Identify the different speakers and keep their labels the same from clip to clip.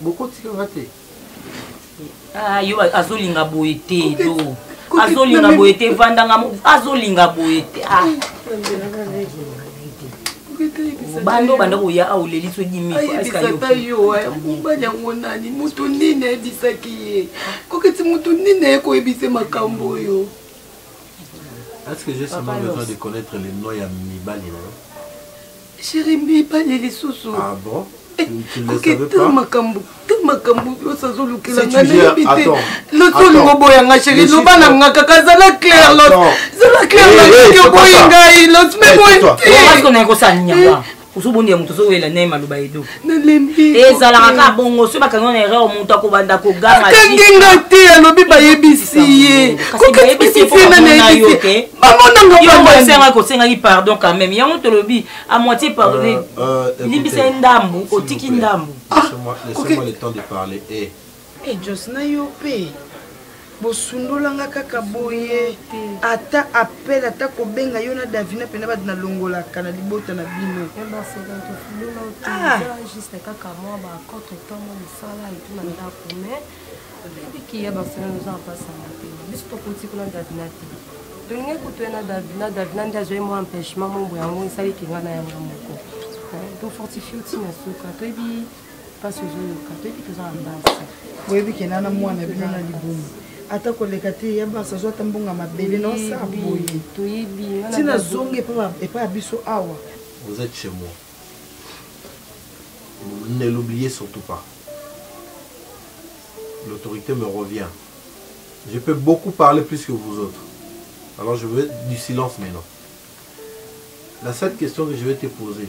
Speaker 1: bokotika nga te
Speaker 2: ah, yo azolinga boye te yo azolinga boye te vandanga azolinga boye te ah. bando banda koya awa oleli so dimiayebisaka yo
Speaker 3: eh, mobali yango nani moto nini ayebisaki ye koketi moto nini aye koyebise makambo oyo
Speaker 1: Est-ce que j'ai seulement besoin de connaître les noms ya mibali na yo
Speaker 3: Chérie mibali lisusu. Ah bon?
Speaker 1: koketa makambo
Speaker 3: te makambo nyonso azolukela nga nayebi te
Speaker 1: loto olingo boya
Speaker 3: nga sheri loba na nga kaka zala claire lot zala claire nayoki oboyi ngai lot me boyi te
Speaker 2: ozobonde ya moto ozowela naye maloba edo ezalaka
Speaker 3: kaka bongo
Speaker 2: soki bakangi na erreur moto akobanda kogangakangi nga te
Speaker 3: alobi bayebisi ye
Speaker 2: bamonangaosengaki
Speaker 3: kosengaki
Speaker 2: pardon quand même yango tolobi a moitié pardonne euh, euh, limbisa ye ndambu otiki ndambu
Speaker 1: ah, Eh Jos
Speaker 3: na yo pe bosundola nga kaka boye ata appel ata kobenga yo na davina mpena bato nalongolaka na libota na bino
Speaker 4: ebikiya basala noza mpasanga te biso tokuti kuna davina te tolingi kutu ye na davina davina nde azwai mwa empêchement mombo yango esali kinga na yango moko tofortifie ntina suka toyebi mpasi ozoyoka toyebi toza na basi boyebi kenda na
Speaker 3: mwana bino na libumu ata koleka te ya basi azwa ata mbongo ya mabele na osa boye toyebi ntina
Speaker 4: zongi
Speaker 3: epai ya biso awa vous êtes chez moi
Speaker 1: ne l'oubliez surtout pas l'autorité me revient je peux beaucoup parler plus que vous autres alors je veux du silence maintenant la seule question que je vais te poser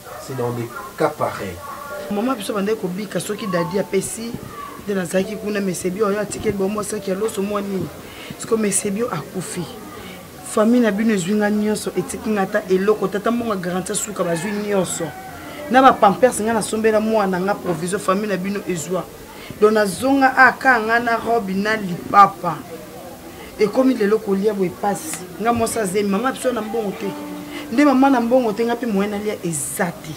Speaker 1: c'est dans des cas pareils mama biso bandaki
Speaker 3: kobika soki dadi apesi nde nazalaki kuna mesebio oyo atikeli bomwa saki ya loso mwa nini siko mesebio akufi famille na bino ezwi nga nyonso etiki nga ata eloko tata mbongo garanti asuka bazwi nyonso na bapampers nga nasombela mwana nga provision famille na bino ezwa donc nazonga aka ah, nga na robe na lipapa ekomi lelo kolia boye mpasi nga mwasi azemi mama biso na mbongo te nde mama na mbongo te nga mpe moyen nalia eza te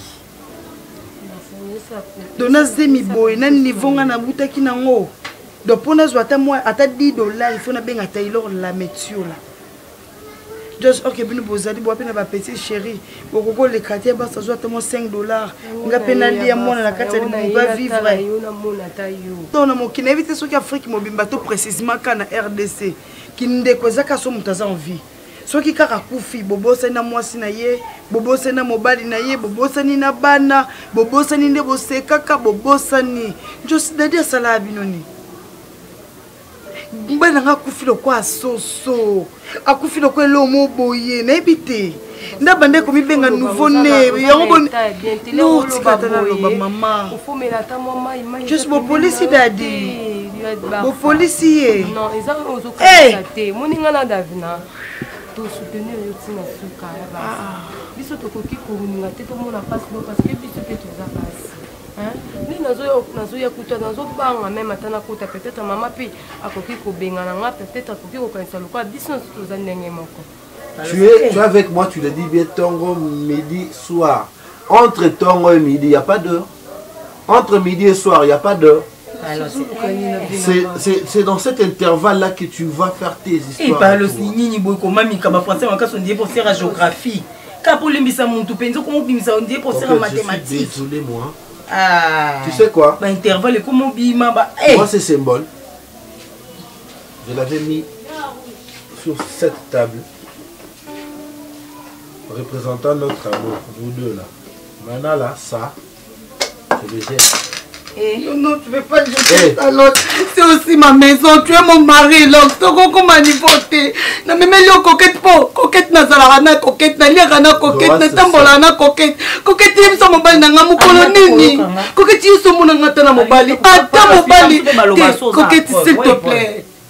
Speaker 3: donc nazemi boye na niveau nga nabutaki nango donc mpo nazwa ata mwa ata 10 dollar il faut nabenga taylor la metiola Josh ok bino bozali bwa mpe na bapetit chéri bokoki koleka te basi azwa ata mwa 5 dollars nga mpe nalia mwana na kati ya libumu bavivre
Speaker 4: to na mokili nayebi te
Speaker 3: soki afrique mobimba to précisement ka na rdc kindeko eza kaka so moto aza envie soki kaka akufi bobosani na mwasi na ye bobosani na mobali na ye bobosani na bana bobosani nde bosekaka bobosani josidadi asalaka bino nini mobali na ngai akufi lokola soso akufi lokola eloo mo boye nayebi te nda banda ekomibenga nouveau ne yango bonotikata naloba mama
Speaker 4: jus bopolisi
Speaker 3: dadi bopolisi ye
Speaker 4: eh! tosoutenir yo ntina suka ya basi ah. biso tokoki kolinga te tomona mpasi bo parce que biso mpe toza basi nde nazoya kuta nazobanga meme ata nakota peut-être mama mpe akoki kobengana nga peut-être akoki kokanisa lokola biso nyonso toza ndenge moko tu es, tu
Speaker 1: es avec moi, tu le dis bien, Tongo, midi, soir. Entre Tongo et midi, il n'y a pas d'heure. Entre midi et soir, il n'y a pas d'heure. C'est dans cet intervalle-là que tu vas faire
Speaker 2: tes histoires.
Speaker 1: Et
Speaker 2: par le
Speaker 1: signini,
Speaker 2: boy, comme Mika, ma français, ma
Speaker 1: casse,
Speaker 2: on dit pour faire
Speaker 1: la
Speaker 2: géographie. kaka olembisa motu mpenza okoma obimisa ondie kosala mathématique ah. tu
Speaker 1: sais
Speaker 2: quoi
Speaker 1: baintervalle ekoma obima
Speaker 2: ba eh. moi ce symbole
Speaker 1: je l'avais mis sur cette table représentant notre amour vous deux là maintenant là ça Eh. Non, non,
Speaker 3: tu veux pas jeter ta eh. lotte. C'est aussi ma maison. Tu es mon mari, Lox. Tokoko manipote. Na meme lio coquette po. Coquette na zala na coquette. Na lia na coquette. Na tambola na coquette. Coquette yem sa mobali na nga mukolo ah, nini. Coquette yeso mona ngata na mobali. Ata mobali. Coquette, s'il te plaît.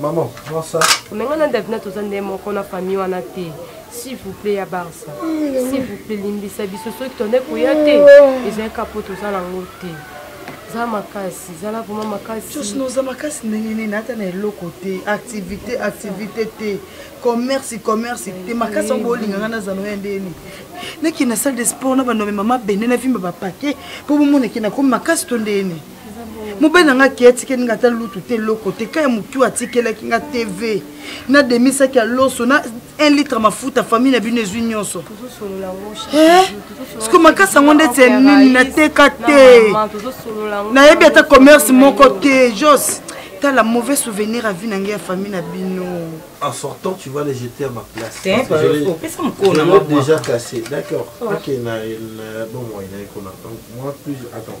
Speaker 1: Maman, prends ça. Mais on a Davina tous des mots qu'on a famille on a
Speaker 4: té. S'il vous plaît, ya Barça. S'il vous plaît, limbisa biso soki tonde koya te. Ezali kapo toza na ngo te. Za makasi, zala vraiment makasi. Tous nos makasi
Speaker 3: ndenge nini ata na eloko te, activité, activité te. Commerce, commerce te. Makasi on bolinga ngana za noya ndeni. Naki na salle de sport na bando mama bende na vimba ba paquet. Po bomona ki na ko makasi to ndeni. mobali na ngai akei atikeli ngai ata lutu te eloko te kai motu atikelaki ngai tv na demisaki ya loso na 1 litre mafuta famille na bino ezwi nyonso eh? siko makasi yango ndeti ya nini nateka te nayebi ata commerce moko te jos tala mauvais souvenir avi na ngai ya famille na bino en sortant
Speaker 1: tu vas les jeter à ma place opesa
Speaker 2: mokolo
Speaker 1: déjà cassé d'accord oh. ok na bomoi na ekona donc moi plus attends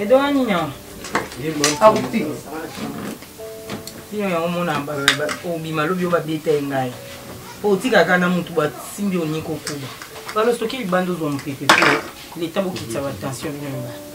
Speaker 2: edo wani nyawa
Speaker 3: akuti
Speaker 2: yo yango mona obima lobi yo babeta ye ngai po otikaka na motu basimbi oni kokuba balo soki libanda ozwa mopepe po leta bokitisa batension bino mibale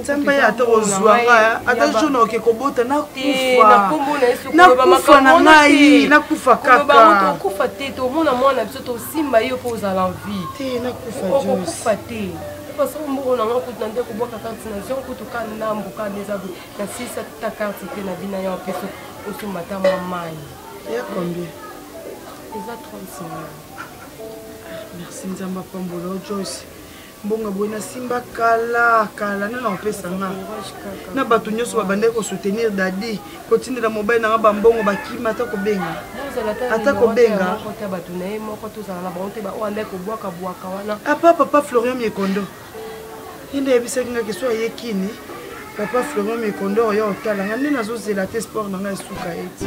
Speaker 3: nzambe ye ata kozwa nga ata jona oke kobota nakufa na ngai nakufa kakaokufa te tomona
Speaker 4: mwana biso tosimba ye mpo ozala nvieokufa
Speaker 3: te
Speaker 4: façon mbongo na nga kutu na nde kobwaka karte na zio kutu ka ndambo ka nde eza na sisa ta karte te na bina ya mpeso osomba ta mwa mai ya combien
Speaker 3: eza
Speaker 4: 30 ah,
Speaker 3: merci nzambe apambola ojosi mbongo boye nasimba kala kala nana kopesa nga na bato nyonso babandaki kosoutenir dadi kotindela mobali na nga bambongo bakima ata kobenga ata kobenga apa papa florian miekondo ye nde ayebisaki nga keso aye kini papa florian miekondo oyo otala nga nde nazozela te sport na nga esuka ete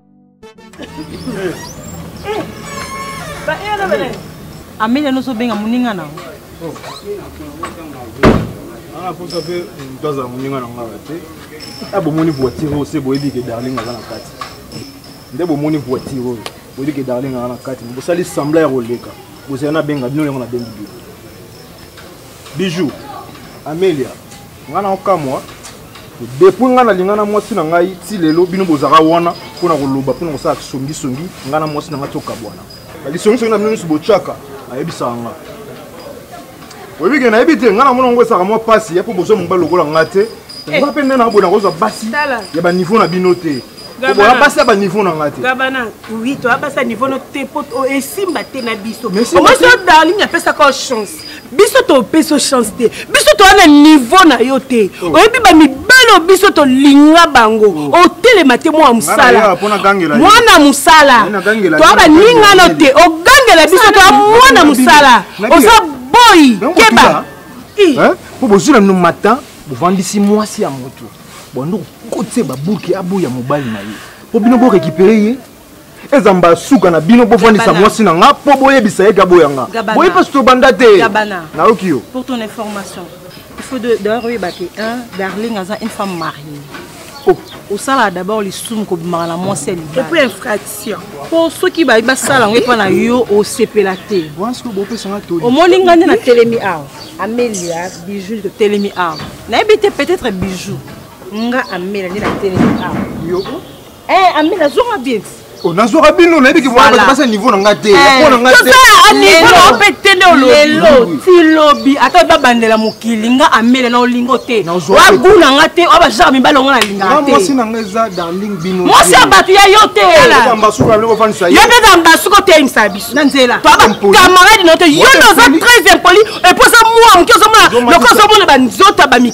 Speaker 5: ameli anoso obenga moninga na
Speaker 6: anaposa mpe moto azala moninga na ngaka te a ah, bomoni voitire oyo se boyebi ke darling aza na kati nde bomoni voitire oyo boyebi ke darling aza na kati bosali sembla ya koleka bozela nabenga bino yango nabengi bino Bijou, Amelia, nga na okamwa depuis nga nalinga na mwasi na ngai ti lelo bino bozalaka wana mpo na koloba mpo na kosala kisongisongi nga na mwasi na ngai tokabwana kisongisongi na bino nyonso botyaka ayebisaka nga oyebi ke nayebi te nga namona yango esaka mwa mpasi ya mpo bozwa mobali lokola nga te eh. nga mpe nde na boyena kozwa basi ya baniveau na bino te oboya basi ya baniveau na nga te gabana oui toya
Speaker 3: basi ya niveau no te mpo esimba te na biso omosi odalini apesaka chance biso topesi yo chance te biso toya na niveau na yo te oh. oyebi bamibali oyo biso tolinga bango oh. otelema te mwana mosala mwana mosala toya baningano te ogangela biso toya mwana mosala oza boyi keba mpo
Speaker 6: bozwi na no matin bovandisi mwasi ya moto bando kokotisa babuki aboya mobali na ye mpo bino borekipere ye eza mbala suka na bino bofandisa mwasi na nga mpo boyebisa ye gaboya nga boye mpasi tobanda te nayoki yo pour ton information
Speaker 5: il faut d'ailleurs oyeba ke un darling aza une femme mariée oh. osalaka d'abord lisumu kobimaka na mwasi ya libaepo infraction
Speaker 3: mpo soki bayi
Speaker 5: basala yango epa na yo osepela te
Speaker 6: omoni ngai nde natelemi
Speaker 5: awa amelia bijou totelemi awa nayebi te peut-être bijou nga amela nde natelemi awa
Speaker 6: Eh, ami
Speaker 5: nazonga bien. Oh, nazwaka bino
Speaker 6: nayebi ke mwana bato basa niveau na nga te eh, po na nga teniveau mpe
Speaker 3: te nde olelo ti
Speaker 5: lobi ata babandela mokili nga amele na olingo te wagu na nga te oya bajare mibale ongo nalingaka temwasi na nga eza
Speaker 6: darling bino mwasi ya bato ya yo
Speaker 5: te
Speaker 6: yo mpe za mbasuku
Speaker 3: oteyemisa biso na nzela
Speaker 5: toabakamarade
Speaker 3: na yo te yo nde oza très impoli epo oza mwa moke ozomona lokola ozomona banzoto ya bamik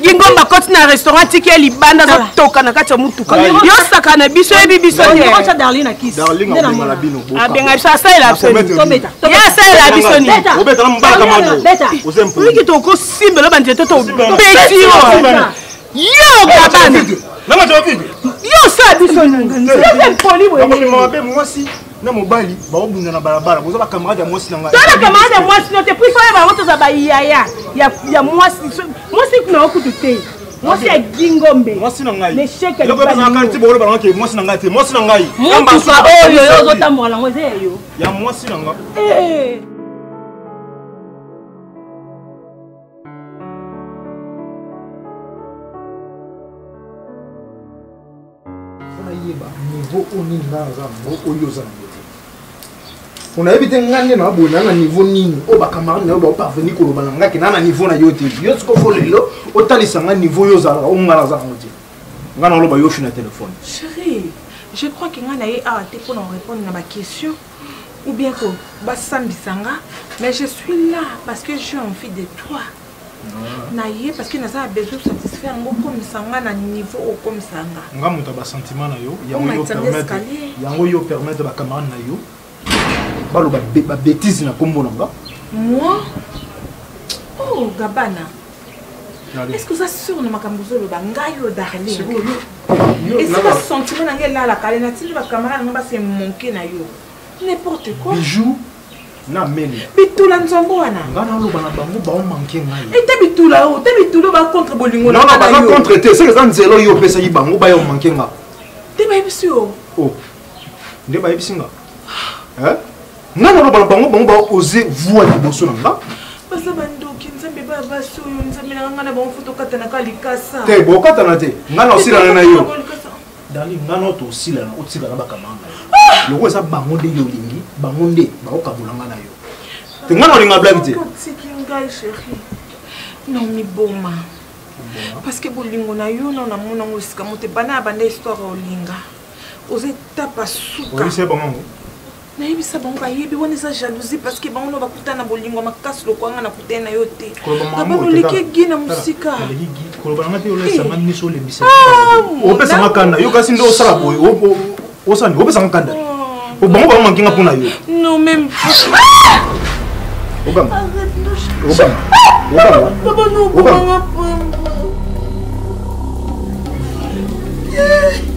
Speaker 3: gingomba akoti na restaurant tiki ya libanda azotoka na kati ya motuka yosaka na biso yebi biso
Speaker 5: abenga
Speaker 6: biso
Speaker 3: asalela ye asalela biso niiki
Speaker 6: tokosimbelo
Speaker 3: banzete to tobeti yo yo gabana yo
Speaker 6: osala biso
Speaker 3: nini
Speaker 6: na mobali baobunda na balabala boza bacamarade ya mwasi na ngai toza bacamarade ya mwasi no
Speaker 3: te puis soyeba yango toza bayaya ya mwasi mwasi kuna yango kutu te mwasi ya gingombe mwasi na ngai
Speaker 6: neshekati
Speaker 3: bokoloba
Speaker 6: nango ke mwasi na ngai te mwasi na ngai motuka oyo yo
Speaker 5: ozotambola nango eza ya yo ya mwasi na
Speaker 6: ngai eh. nayeba niveau oyo nini nga naza nango oyo oza nango te onayebi te nga nde naboye naa na niveau nini oyo bacamarade na yo baoparveni koloba na nga ke naa na niveau na yo te yo siko fo lelo otalisa nga niveau yo ozalaka oyo nga naza nango te nga naloba yo ofi na telefone
Speaker 3: chérie je crois ke nga na ye awa
Speaker 6: te
Speaker 3: mpo na korépondre na baquestion ou bien ko basambisa nga mais je suis là parce que j'ai envie de toi na ye parce que naza na besoin satisfaire yango okomisa nga na niveau okomisa nga nga moto ya basentiment
Speaker 6: na yo yango yo permettre bacamarade na yo baloba babétise na nkombo na nga moi
Speaker 3: oh gabana est-ce que oza sur na makambo ozoloba ngai yo darlin esi basentiment na ngai elalaka ale natindi bacamarade na ngai base moke na yo n'importe quoi bijou
Speaker 6: na mele bitula nzongo wana
Speaker 3: nga naloba na bango
Speaker 6: baomanke ngai ete bitula o te
Speaker 3: bitula ba contre bolingo na nga baza contre te
Speaker 6: soki eza nzela oyo opesaki bango baya omanke nga te bayebisi
Speaker 3: yo o oh.
Speaker 6: nde bayebisi nga eh? nga naloba na bango bango baoze voi liboso na nga baza bandoki
Speaker 3: nzambe baya basi oyo nzambe na nga na bango fo tokatanaka likasa te bokatana te
Speaker 6: nga na osilana na yo dani nga na oto osilana otika na bakamanga loko eza bango nde yo olingi bango nde bakokabola nga na yo te nga na olinga blaki te
Speaker 3: nomiboma parce que bolingo na yo na namona yango esika moto ebanda ya banda histoire olinga oza etapa suka
Speaker 6: nayebisa
Speaker 3: bango bayebi wana eza jalousie parce que bango no bakuta na bolingo makasi lokwanga na kutani na yo te babaloleki gi na mosika koloba nanga te
Speaker 6: olesanga eh. miso olembisa ah, opesanga kanda yo kasi nde osala boye osani opesanga kanda oh, bango bango mankinga mpo na yo non même obama
Speaker 3: obama
Speaker 6: obama papa
Speaker 3: no obama Yeah.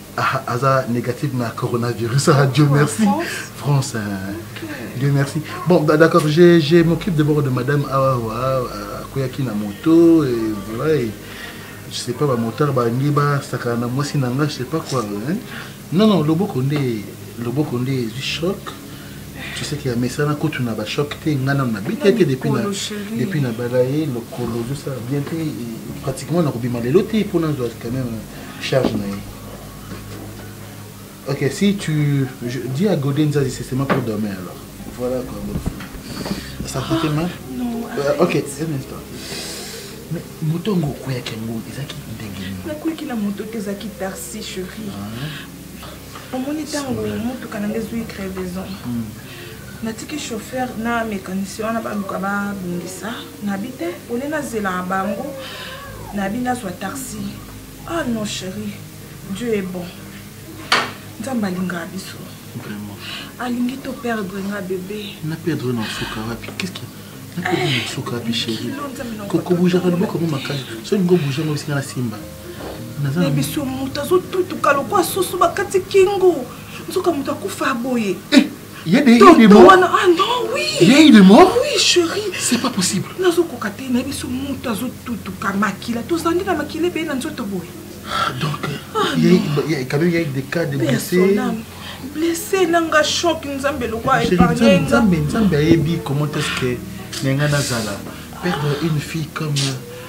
Speaker 7: Ah, aza négatif na coronavirus ah, dieu merci france hein. dieu merci bon d'accord je, je m'occupe d'abord de madame awawa akweyaki na moto et voilà et, je sais pas bamotare balingi basakana na mwasi na nga je sais pas quoi hein. non non loboko nde loboko nde ezwi choc tu sais qu'il y a mesana kutu na bachoc te nga nano nabeta te depuis na depuis na bala ye lokolo ozosala bien te pratiquement nakobima lelo te mpo nazwa quand même charge na ye ok si tu je, dis à Godé Nzazi c'est seulement pour demain alors voilà quoi ça ah, fait mal non euh, ok un instant mais moto yango okweyaki yango ezalaki ndenge nini nakweyaki na moto
Speaker 3: te ezalaki taxi chéri ah. omoni ntango motuka na nde ezwi crevaison hmm. natiki chauffeur na mécanicien wana baluka babongisa nabi te ole nazela bango nabi nazwa taxi ah non chérie dieu est bon nzambe alingaka biso
Speaker 7: alingi to
Speaker 3: perdre nga bebe na perdre na suka
Speaker 7: wapi qu'est-ce qui nakomi na suka wapi chérie kokobujaka loboko mo makasi so lingo buja ngo bisinga na simba na
Speaker 3: biso moto azotutuka lokwa soso bakati kingo nzoka moto akufa boye eh! Il y a des,
Speaker 7: des morts. Ah non, oui.
Speaker 3: Il y a eu des morts. Oui,
Speaker 7: chérie. C'est
Speaker 3: pas possible.
Speaker 7: Nazo kokate na
Speaker 3: biso mutu azo tutu kamakila. To zandi na makile be na nzoto
Speaker 7: boye. Ah, donc ah, il y a il y a quand même il y a des cas de blessés. Blessé
Speaker 3: nanga choc nzambe
Speaker 7: lokwa
Speaker 3: épargné. Nzambe nzambe
Speaker 7: ayebi
Speaker 3: comment
Speaker 7: est-ce que nenga nazala perdre une fille comme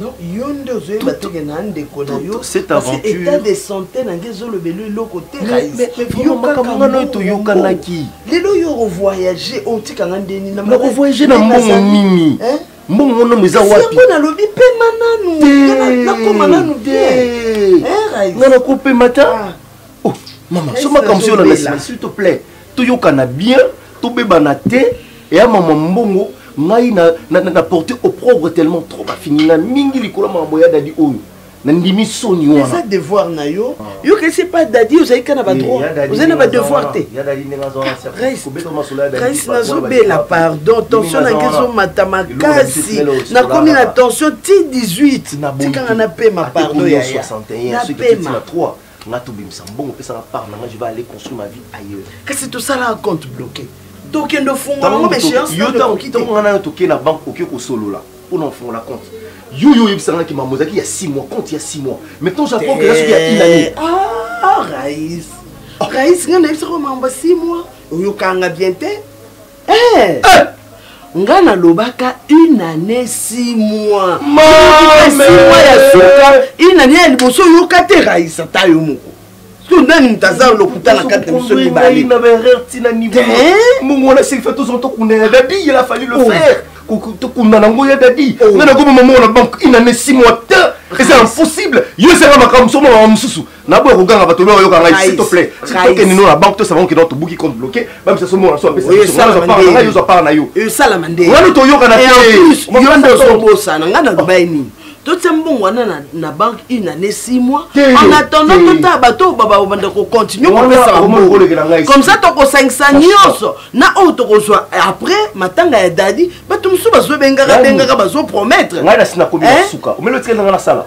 Speaker 8: Non, yo
Speaker 9: nde ozoyeba teke na ndeko na yo état
Speaker 8: de santé
Speaker 9: na nge ezolobela eloko te
Speaker 8: makambo toyokanaki lelo yo
Speaker 9: ovoyage otika nga ndeni nakovoyage na mbongo
Speaker 8: nini mbongo monomo eza wapiyango nalobi pema
Speaker 9: nanu nakoma nanu te nga
Speaker 8: nakopema ta mama so makambo soyo na nasima s'il te plaît toyokana bien tobebana te eya mama mbongo ngai na, na, na, na porte opprobre tellement trop bafinginga mingi likolo makambo ya dadi oyo nandimi soni wana eza devoir na yo
Speaker 9: ah. yo kesi epa dadi ozali kaka na badroit eh, ozali na badevoir te grace nazobela pardon tension na ngai ezomata makasi nakomi na tension ti 18 tikanga napema pardon yaya napema
Speaker 8: nga tobimisa mbongo pesa nga part na nga je vais aller construire ma vie ailleurs kasi tosala
Speaker 9: compte bloqué tokende ofungola ngo méchéance yo ntango nga nayo
Speaker 8: tokei na banque oke kosolola mpo na ofungola compte yo yo oyebisa nga kimambo ezalaki ya 6 mois compte ya 6 mois maintenant japon keza soki ya une année ah, rais
Speaker 9: rais nga nayebisaka mambo ya 6 mois oyokanga bien te Eh! Eh! nga nalobaka une année six mois six mois ya suka une année ya liboso oyoka te rayisa ta yo moko to nani moto aza lokuta na kati na biso
Speaker 8: mibale mongona silifa tozala tokunda ya dadi il a fallu le oh. faire tokunda nango ya dadi oh. nga nakoma mamongo na banque une année six mois te eza impossible yo ezanga makambo mosusu makambo mosusu naboya koganga bato oyo bayoka ngai s'il te plaît tokende no na banque tosaba oke donc tobuki compte bloqué bamisa so mona so apesaoyo ozwa part na yo esalama nde wana
Speaker 9: toyokana te
Speaker 8: yo nde
Speaker 9: ozobosana ngai naloba ye nini totia mbongo wana na banque une année six mois en attendant totala bato oyo babanda kocontinue kopesaka mbongo comme ça tokosangisa nyonso na oyo tokozwa après matanga ya dadi bato mosusu bazobengaka bengaka bazopromettre ngai nasi nakomi na
Speaker 8: suka omeli otikeli nanga nasala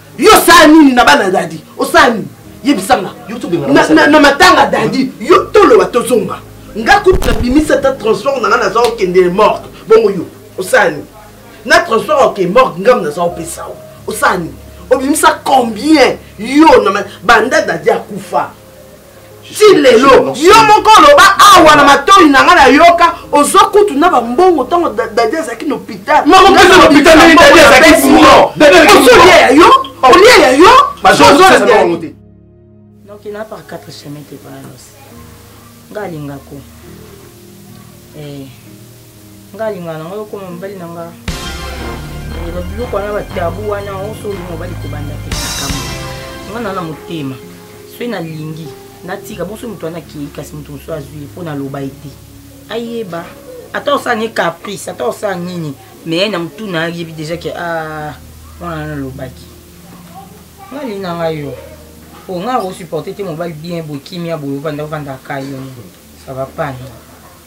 Speaker 9: yo osala nini na bana dadi osala nini yebisanga na matanga dadi yo toloba tozonga nga kutu nabimisa ata transport na nga naza okende morgue bongo yo osala nini na transport oke morgue ngambo naza opesa yo osala nini obimisa combien yo na banda dadi akufa ti lelo yo moko oloba awa na matoi na ngai nayoka ozwa kutu na bambongo ntango dadi azalaki na hôpital
Speaker 8: olie ya yo
Speaker 9: olie ya yo
Speaker 2: noki na par quatre chemin te pona nosi nga alingako eh, nga alingaka nango okoma mobali na nga babiloko wana batabu wana oso olinga mobali kobanda te makambo nga na na motema soki nalingi natika bonso moto wana akei kasi moto mosusu azwi ye mpo naloba ye te ayeba ata osala ne caprice ata osala nini mais na motu na ayebi deja ke ah, mwana nalobaki nga alingi na ngai yo po nga akosupporte te mobali bien boye kimia boye ovanda ovanda akai yo ça va pas non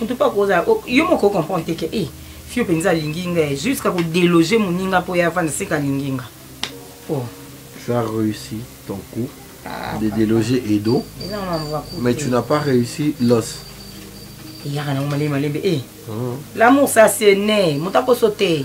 Speaker 2: en tout cas koza oh, yo moko o comprendre te ke e eh, fio mpenza alingi nga eh, jusqu'à kodeloge moninga mpo ye avanda seka alingi nga po oh. ça
Speaker 1: réussi ton coup ah, de déloger edo mais tu n'as pas réussi l'os eyaka nango malembe malembe e
Speaker 2: l'amour ça se ne moto akoso te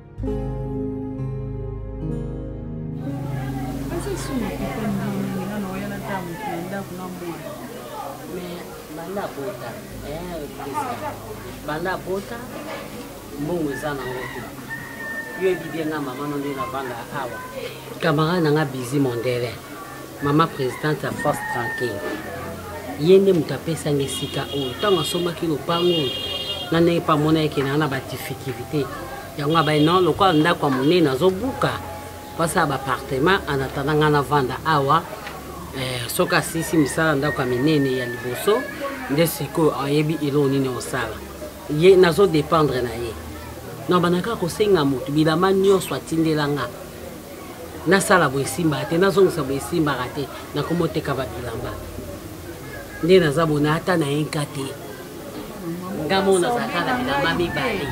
Speaker 10: banda bota banda bota mbongo eza nango te yo ebibi nga mama no nde navanda awa camarade na nga bizi mondele mama presidente ya force tranquille ye nde moto apesanga esika oyo ntango asombaki lopango oyo na ndenge mpe amona yeke naa na badifficulté yango abai non lokola ndako ya monene azobuka basala bapartement anatanda ngai navanda awa eh, soki asisi misala ndako ya minene ya liboso nde sikoyo ayebi eloko nini osala ye nazodependre na ye nabandaka kosenga moto bilamba nyonso atindela ngai nasala boye esimbaka te nazongisa boye esimbaka te nakomi oteka babilamba nde naza bona ata na enka te nga mo nazalaka na bilamba mibale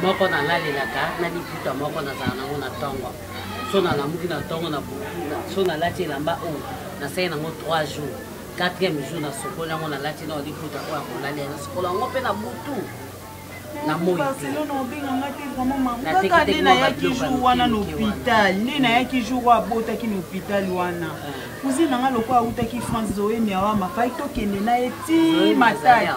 Speaker 10: moko nalalelaka na liputa moko nazala nango na ntongo so nalamuki na ntongo na so nalati elamba oyo nasali nango 3 jours quatrième jour nasokoli yango nalati na liputa oyo akolali nasokoli yango mpe na butu na moi barcelone obenga nga te vraimentkaka
Speaker 3: nde nayaki jour wana na hôpital nde nayaki jour oyo abotaki na hôpital wana cousine na nga lokola awutaki france zoe miawama fai tokende na ye ti matadi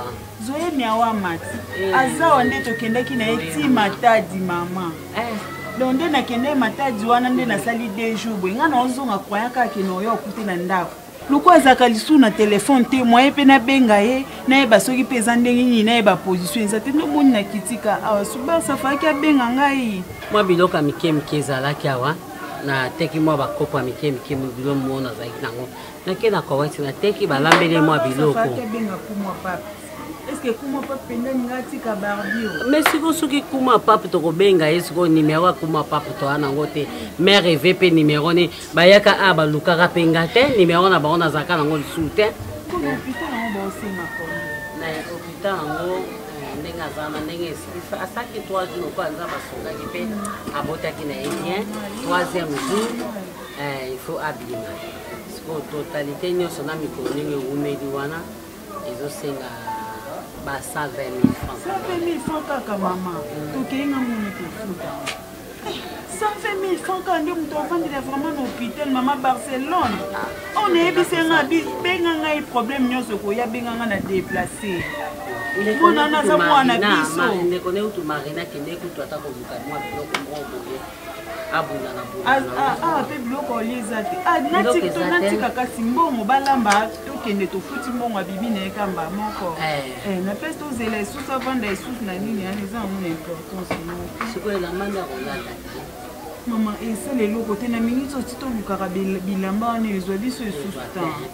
Speaker 3: zoe miawama ti eh. azawa nde tokendaki na ye ti matadi mama eh. donc nde nakende matadi wana nde nasali deux jours boye ngai naozonga kwayaka akende oyo okute na ndako loko azalaka lisusu na telefone te moye mpe nabenga ye nayeba soki mpe eza ndenge nini nayeba position eza te ndomoni na kitika awa subarsa afalaki abenga ngai mwa biloko ya mike
Speaker 10: mike ezalaki awa nateki mwa bakopo ya mike mike bilo mo nazalaki nango nake na kowati nateki balambeli mwa biloko
Speaker 3: me sikoyo soki
Speaker 10: kuma pape tokobenga ye sikoyo nimero ya kuma pape toa nango te mare eve mpe nimero nini bayaka a balukaka mpe nga te nimero na bango nazalaka nango lisusu te hôpital yango eh, ndenge aza na ndenge esilisa asaki 3 jours lokola nza basungaki mpe abotaki na ye bien 3ième jour eh, il faut abima sikoyo totalité nyonso na mikolo ndenge ewumeli wana ezosenga ba 120000 francs
Speaker 3: 120000 francs kaka mama tokei nga
Speaker 10: moni
Speaker 3: kofuta 120000 francs kaka nde moto avandela vraiment na hôpital mama barcelone oyo nayebisi nga benga ngai problème nyonso koya benga nga na déplace mwana naza mwana biso
Speaker 10: ndeko ne utu marina kende kutu ata koluka mwa biloko moko boye
Speaker 3: awa mpe biloko olie eza te ah, natika kasi mbongo balamba tokende tofuti mbongo abibi na ye kamba moko eh. Eh, na place tozela esusu avanda esusu na nini yani eza yango na importance
Speaker 10: mama
Speaker 3: esala eloko te na minute oti tolukaka bilamba wana ezwa biso esusu tan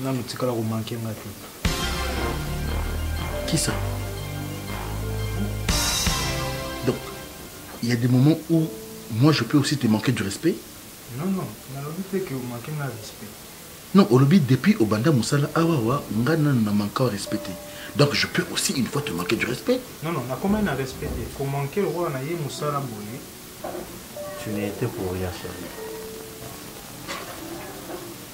Speaker 6: nanu tikala komanke nga te
Speaker 7: kisa donc il y a des moments où moi je peux aussi te manquer du respect non non
Speaker 6: nalobi te ke omanke nga respect non olobi
Speaker 7: depuis obanda mosala awawa nga nanu na manka o respecte donc je peux aussi une fois te manquer du respect non non nakomai na
Speaker 6: respect te komanke lokola na ye mosala boye
Speaker 1: tu n'étais pour rien chérie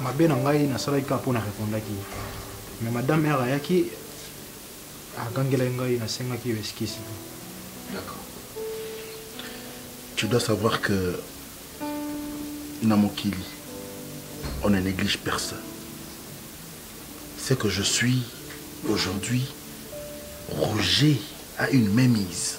Speaker 6: mabe na ngai nasalaki kaka mpo na repondaki ye mais madame mare ayaki agangelaki ngai nasengaki yo eskisi d'accord
Speaker 7: tu dois savoir que na mokili on ne néglige personne ce que je suis aujourd'hui Roger a une mémise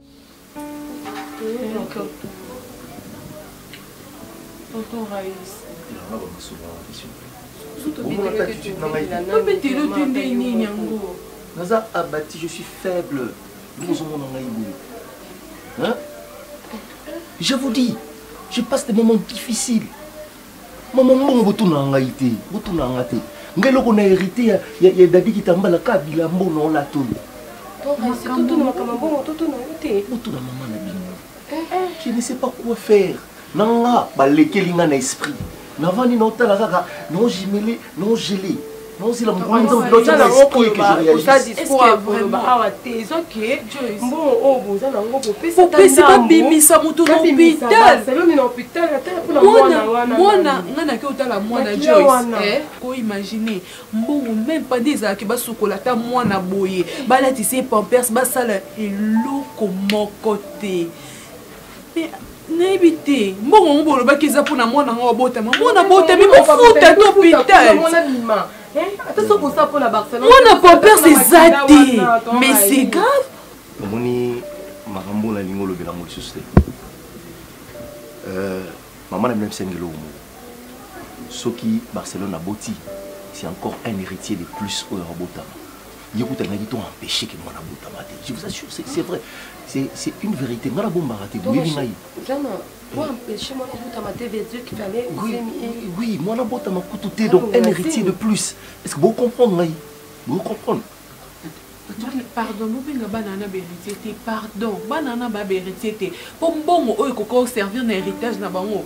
Speaker 4: Tonton Raïs.
Speaker 8: obeteli ote nde nini yango naza abati je suis faible bozomona ngai boye je vous dis je passe des moments difficiles mama mbongo botunaka ngai te botunaka nga te ngai eloko na hérité ya, ya, ya dadi kitambala ka bilambo na olata oyo botuna mama na bino eh, eh. je ne sais pas quoi faire na nga balekeli nga na esprit navandi naotala kaka naojimele naogele bozela mokolo moto biloko na esprit que je réalise est-ce que vraiment
Speaker 4: awa te ezo que mbongo oyo oh, boza na ngo bopesa bopesa babimisa moto na hôpital saloni na hôpital ata kuna mwana wana mwana nga na ke otala mwana Joyce eh ko imaginer mbongo même pas des ezalaki basukola ata mwana boye balatisa ye pampers basala eloko moko te nayebi te mbongo yango bolobaki eza mpona mwana yango abotama mwana abotami bofuta to hopital mwana pampers eza te mais c'est grave omoni
Speaker 8: makambo oyo nalingi olobela yango lisusu te euh, mama na bino abisani eloko moko soki barcelone aboti c'est encore un héritier de plus oyo akobotama ye kuta alingaki to empêche ke mwana abotama te je vous assure c'est vrai c'est une vérité ngai nabombaka te boyebi ngai oui mwana abotama kutu te donc un héritier de plus est ce que bocomprendre ngai bocomprendre
Speaker 4: pardon bobenga bana wana baheritier te pardon bana wana babaheritier te mpo mbongo oyo ekoki koservir na héritage na bango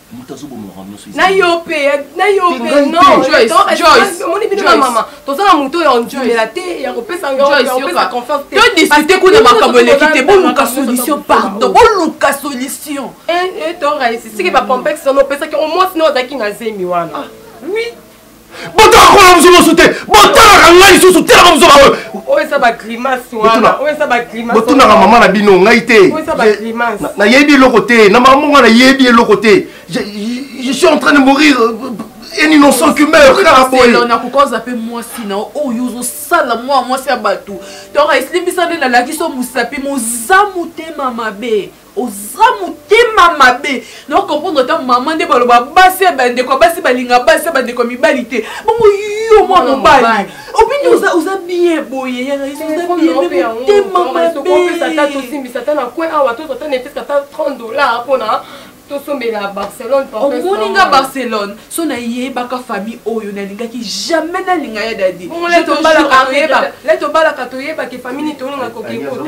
Speaker 8: moto
Speaker 4: azoboma makambo nyonso na yo mpe na yo mpe nomoni bino na mama toza na moto oyo ondimela te ya kopesa yopesa confiance te todiscute
Speaker 11: kuna makambo eleki te boluka solution pardon boluka solution toraisi
Speaker 4: siki bacomplexe wana opesaki omwasi na ozalaki na zemi wana ah. oui botala
Speaker 8: kola mosu mosu te botalaka ngai lisusu telaka mosu baoyo
Speaker 4: botunaka mama na bino
Speaker 8: ngai te
Speaker 4: nayebi eloko te
Speaker 8: na mama monga nayebi eloko te je suis en train de mourir un innocent qui meurt kaka boye nakokoza
Speaker 11: mpe mwasi na oyo ozosala mwa mwasi ya bato donc esilimbisa nde nalakisi yo mosapi moza motema mabe oza motema mabe na comprendre ata mama nde baloba basi ya bandeko ya basi balinga basi ya bandeko ya mibali te bongo yo mwa mobali obini oza oza bien boye ya rais oza bien mais motema mabetosimbisa ata
Speaker 4: na coin awa tozo ata netesa ata 30 dollars mpona tosombela barcelone omoni nga
Speaker 11: barcelone so nayebaka famille oyo nalingaki jamais nalinga ya dadi
Speaker 4: letobalaka toyebake famille nitolinga kokekoo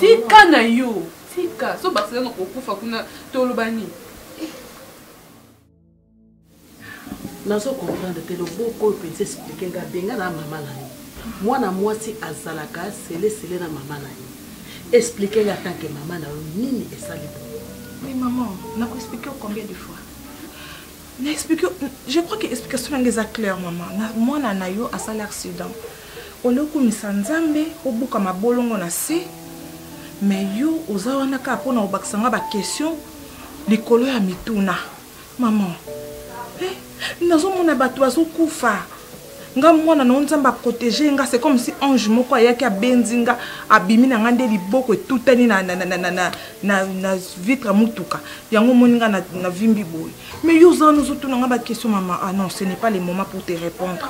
Speaker 11: tika na yo tika so basala na kokufa kuna toloba nini
Speaker 10: nazo comprendre te loboko oyo mpenza esplike nga benga na mama na yo mwana mwasi azalaka selesele na mama na yo esplike nga tanke mama na yo nini esali bo mama
Speaker 3: nakoexplike combien de fois na explique je crois que explication nanga eza claire mama mwana na yo asali accident olio okumisa nzambe obuka mabolongo na se mais yo oza wana kaka mpo na kobakisa nga baquestion likolo ya mituna mama eh, nazomona bato bazokufa nga mwana na yo nzambe a protege ye nga c'est comme si ange moko ayaki abenzi nga abimi na nga nde liboko etutani na, na, na, na, na, na, na, na vitre mutuka yango omoni nga na, na vimbi boye mais yo oza wana ozotuna nga baquestion mama ah non ce n'est pas le moment pour te répondre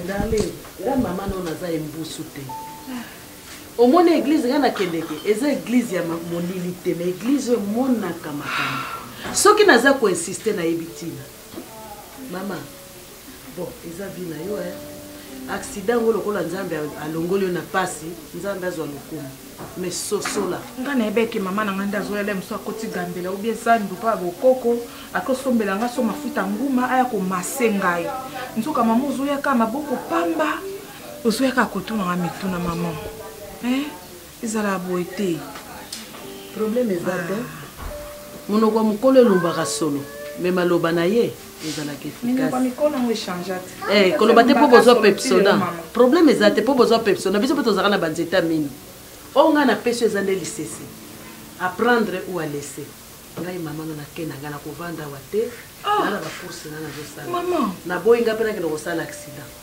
Speaker 10: dale nga mama nao naza embusu te omoni eglize nga nakendeke eza eglize ya molili te ma eglize oyo emonaka makambo soki naza koinsiste nayebi ntina mama bon eza vie na yo eh. accident yango lokola nzambe alongoli yo na pasi nzambe azwa lokumu me sosola nga na ebeke mama na
Speaker 3: ngai nde azoyala mosu akoti gambela obi ezandu mpo ya bokoko akosombela nga so mafuta nguma aya komase ngai nzoka mama ozoyaka maboko pamba ozoyaka kotunanga mituna mama eh? ezalaka boye te
Speaker 10: probleme eza te ah. monoko ya mokolo elombaka solo me maloba na ye ezalaka efficace koloba te mpo bozwa pepsona probleme eza te mpo bozwa pepsona biso mpe tozalaka na banzeta mino oyo ngai napesi eza nde lisese apprendre ou a laisser ngai mama no nake na ngai nakovanda awa te ah. nana bacourse nga nazosala naboyi ngai mpe nakende kosala accident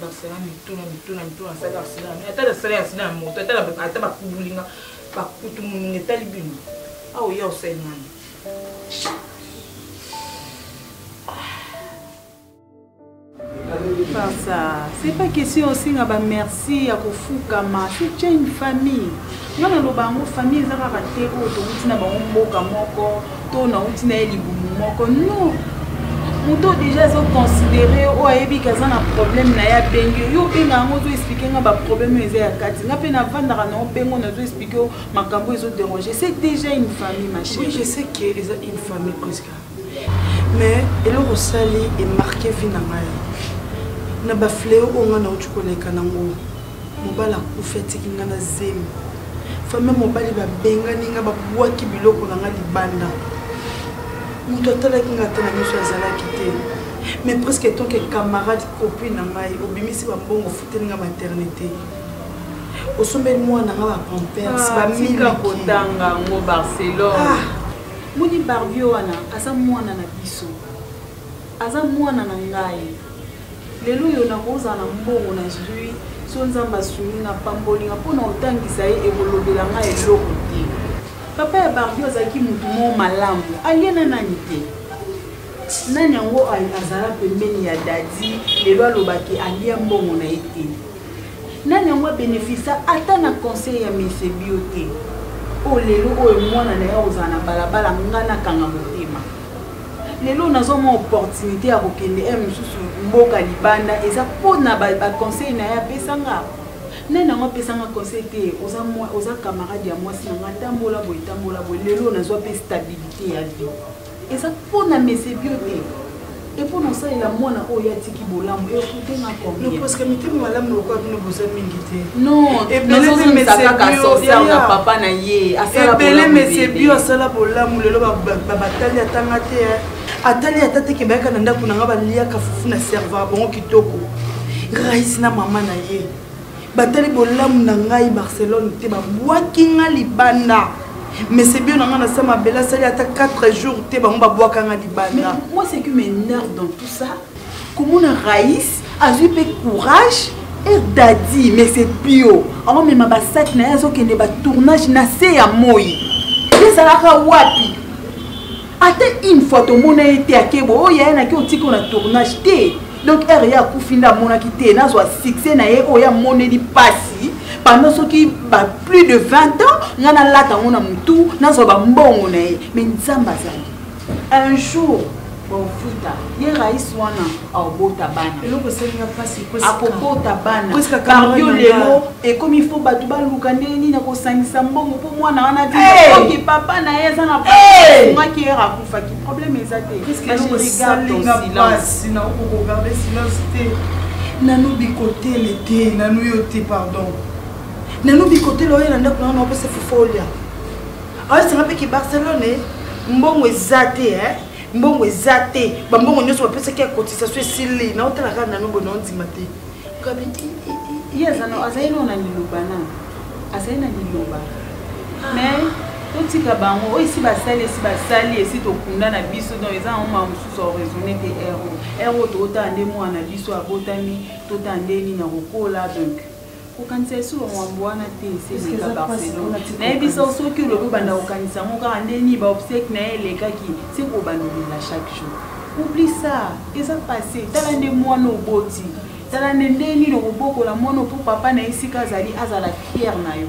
Speaker 3: basala mituna mituna mituna asala asila ata nasala ya asila ya moto ata bakubulinga bakutu monunga etali bino awa oya osali nani
Speaker 5: par ça c'est pas question osinga bamerci ya kofukama c'est une famille nga naloba yango famille eza kaka te oyo towuti na bango mboka moko to nawuti na ye libumu moko no moto deja azoconsidere yo oyo ayebi ke aza na problème na ye abengi yo obenga yango ozoexplike nga baproblème oyo eza ya kati nga mpe navandaka na obengo nazoexplike yo makambo oyo ezoderange c'est déjà une famille ma chérie oui, je sais que eza
Speaker 3: une famille presque mais eloko osali emarke vi na ngai na bafleo oyo ngai nauti koleka nango mobali akufi atiki ngai na zemi fami ya mobali babengani ngai babwaki biloko na ngai libanda moto atalaki ngai ata na miso azalaki te mais presque tant que camarade copine na ngai obimisi bambongo ofuteli ngai maternité osombeli mwana ngai bapampers ah, bamilika
Speaker 5: kotanga yango barcelone ah. moni barbie wana aza mwana na biso aza mwana na ngai Lelo oyo nakozala na mbongo nazwi so Nzambe asungi nga apamboli nga mpo na kotangisa ye ekolobela nga eloko te. Papa ya Barbie azalaki motu moko malamu, alie na nani te. Nani yango azala pembeni ya Daddy lelo aloba ke alia mbongo na ye te? Nani yango abenefisa ata na conseil ya Monsieur Bio te? Oyo lelo oyo mwana na ye akozala na balabala nga nakanga motema. lelo nazwa mwa opportunité ya kokende e mosusu mboka libanda eza mpo na baconseil na ye apesanga nani yango apesanga conseil te oza, oza camarade ya mwasi na ngai tambola boye tambola boye lelo nazwa mpe stabilité ya vie eza mpo na mesebio te epo na osalela mwana oyo atiki bolamu parceke mitema malamu
Speaker 3: lokola bino boza
Speaker 5: mingi te ebele mese
Speaker 3: bio asala bolamu lelo babatali atanga te atali ata teke bayaka na ndako na nga baliaka fufu na serva bango kitoko rais na mama na ye batali bolamu na ngai barcelone te babwaki nga libanda mese bio na nga na sa mabele asali ata 4 jours te bango babwaka nga libanda
Speaker 5: komona rais azwi mpe courage er dadi mais c'est pio aomema basaki na ye azokende batournage na se ya moi ezalaka wapi ata une fois tomona ye te akebo oyo oh, yaye naki otiki na tournage te donc r ye akufi nde amonaki te nazwa succès na ye oyo amoneli mpasi pendant soki ba plus de 20 ans ngai nalata yango na motu nazwa bambongo na ye mais nzambe azali un jour bofuta ye rais wana akobota bana eloko esalinga mpasi akobota bana pardio lelo ekomi fo bato baluka ndenge nini akosangisa mbongo mpo mwana wana vioki papa na ye eza na ungaki ere akufaki probleme eza te nanu bikotele
Speaker 3: te nanu yo te pardon nanu bikotele oyo na ndako nanga na opesa fufolia aosenga mpe ke barcelone mbongo eza te eh? mbongo eza te bambongo nyonso bapesaki ya cotisation esili naotala kaka nano boye naondima te gabi
Speaker 5: ye azali nao na liloba na azali na liloba ah. mais totika bango oyo esi basali esi basali esi tokunda na biso donc eza yango maa mosusu oraisonne te ero ero totala nde mwana na biso abotami totala nde nini akokola donc kokanisa lisusu bamwambo wana te eseeka barcelone nayebi sa soki olobi obanda kokanisa yango kaka nde nini baobsèque na ye elekaki se kobanda olela chaque jour oubli sa eza passe tala nde mwana oboti tala nde nde nini okobokola mwana mpo papa na ye esika azali azala fiere na yo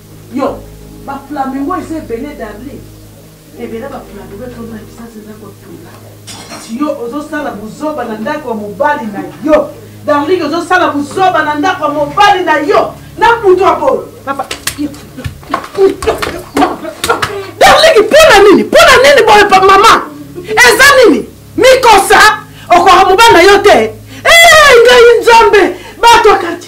Speaker 9: Yo, ba flamingo eza ebele darling. Ebele ba flamingo etondi na bisasi eza kotula. Yo ozosala buzoba na ndako ya mobali na yo. Darling ozosala buzoba na ndako ya mobali na yo. Na mutu ya bolo. Papa, yo. Darling, pona nini? Pona nini boye pa mama? Eza nini? Mikosa okoka mobali na yo te. Eh, ngai nzambe, bato akati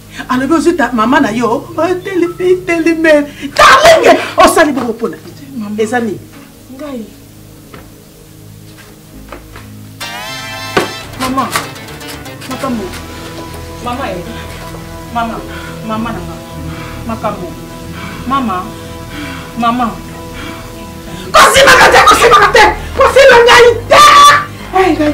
Speaker 9: alobi ozwi mama na yo otelime darlinge osali bongo mpona eza nini ngai
Speaker 5: mama makambo mama e mama mama na nga makambo mama mama kosimaka te kosimaka te kosima ngai te ngai